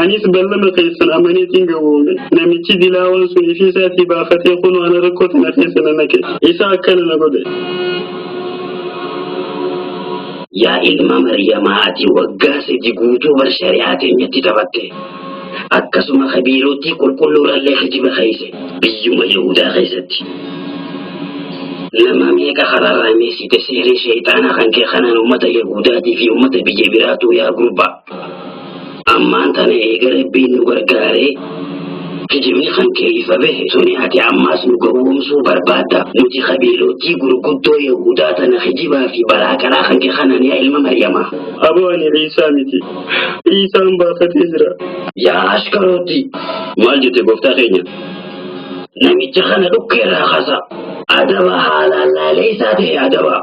Anis ballama keessan amaneetiin gowwoome. Namichi dilaawaan sun ifii isaatii baafatee kunoo ana rakkoo tana keessa na naqe. Isa akkana na godhe. Yaa ilma Maryamaa ati waggaa sadi guutuu bar shari'aa teenyatti taphatte. Akkasuma kabiirootii qulqulluurallee kijiba keeyse biyyuma Yahudaa keessatti. Nama meeqa karaarraa miisite seeree sheeyxaanaa kan kee kanaan ummata Yahuudaatii fi ummata biyya biraatuu yaa gurbaa. Ammaan tana eega Rabbiin nu gargaaree kijibni kan kee ifa bahe suni ati ammaas nu gowwoomsuu barbaadda nuti qabiilootii gurguddoo Yahuudaa tana kijibaa fi balaa karaa kan kee kanaan yaa ilma Maryamaa. Aboo ani Iisaa miti. Iisaan baafatee jira. Yaa ashkarooti! Maal jette gooftaa keenya? Namicha kana dhukkee irraa kaasaa. Adaba haalaan laalee isaa ta'e adaba.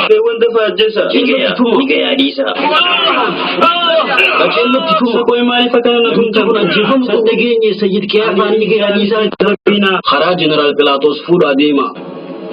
Mee wanta faajjessa. Dhiqee dhiqee adiisa. Baceen nutti tuma. Qoy maaliif akkana na tumta kun ajjeefamu? San dhageenye sayyid qiyaafaanii ga'anii isaa itti rabbina. Karaa jeneraal Pilaatos fuudhaa deema.